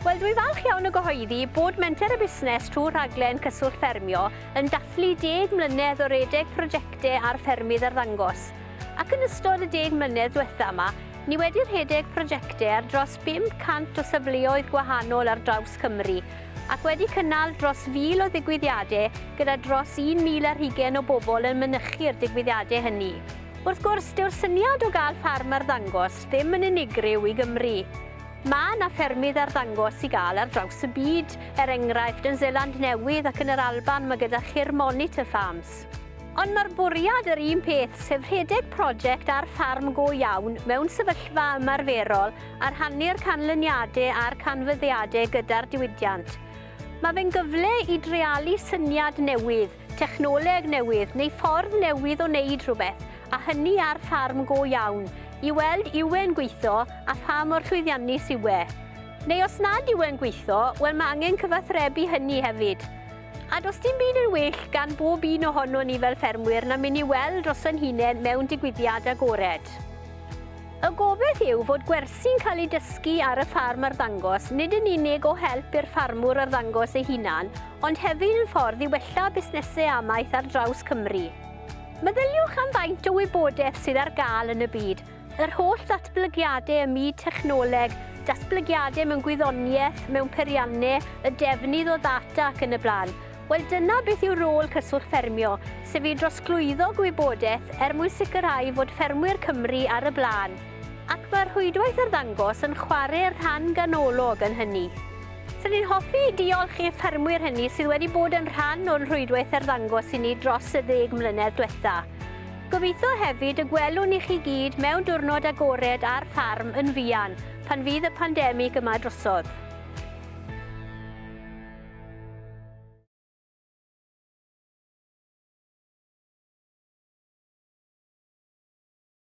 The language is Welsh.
Wel, dwi falch iawn o gyhoeddi bod Menter y Busnes trwy rhaglen Cyswllt Ffermio yn dathlu deg mlynedd o redeg prosiectau ar ffermydd arddangos. Ac yn ystod y deg mlynedd diwetha yma, ni wedi rhedeg prosiectau ar dros 500 o safleoedd gwahanol ar draws Cymru, ac wedi cynnal dros fil o ddigwyddiadau gyda dros 1,000 ar hugain o bobl yn mynychu'r digwyddiadau hynny. Wrth gwrs, dyw'r syniad o gael ffarm arddangos ddim yn unigryw i Gymru. Mae yna ffermydd arddangos i gael ar draws y byd, er enghraifft, yn Seland Newydd ac yn yr Alban mae gyda chi'r Monitor Farms. Ond mae'r bwriad yr un peth, sef rhedeg prosiect ar ffarm go iawn mewn sefyllfa ymarferol a rhannu'r canlyniadau a'r canfyddiadau gyda'r diwydiant. Mae fe'n gyfle i dreialu syniad newydd, technoleg newydd neu ffordd newydd o wneud rhywbeth, a hynny ar ffarm go iawn, i weld ywe'n gweithio a pha mor llwyddiannus yw e. Neu os nad ywe'n gweithio, wel mae angen cyfathrebu hynny hefyd. A does dim byd yn well gan bob un ohonon ni fel ffermwyr na mynd i weld dros ein hunain mewn digwyddiad agored. Y gobaith yw fod gwersi'n cael eu dysgu ar y ffarm arddangos nid yn unig o help i'r ffarmwr arddangos ei hunan, ond hefyd yn ffordd i wella busnesau amaeth ar draws Cymru. Meddyliwch am faint o wybodaeth sydd ar gael yn y byd, yr holl ddatblygiadau ym myd technoleg, datblygiadau mewn gwyddoniaeth, mewn peiriannau, y defnydd o ddata ac yn y blaen. Wel, dyna beth yw rôl Cyswllt Ffermio, sef i drosglwyddo gwybodaeth er mwyn sicrhau fod ffermwyr Cymru ar y blaen. Ac mae'r rhwydwaith arddangos yn chwarae rhan ganolog yn hynny. Rydyn ni'n hoffi diolch i'r ffermwyr hynny sydd wedi bod yn rhan o'n rhwydwaith arddangos i ni dros y ddeg mlynedd diwetha'. Gobeithio hefyd y gwelwn i chi gyd mewn diwrnod agored ar ffarm yn fuan pan fydd y pandemig yma drosodd.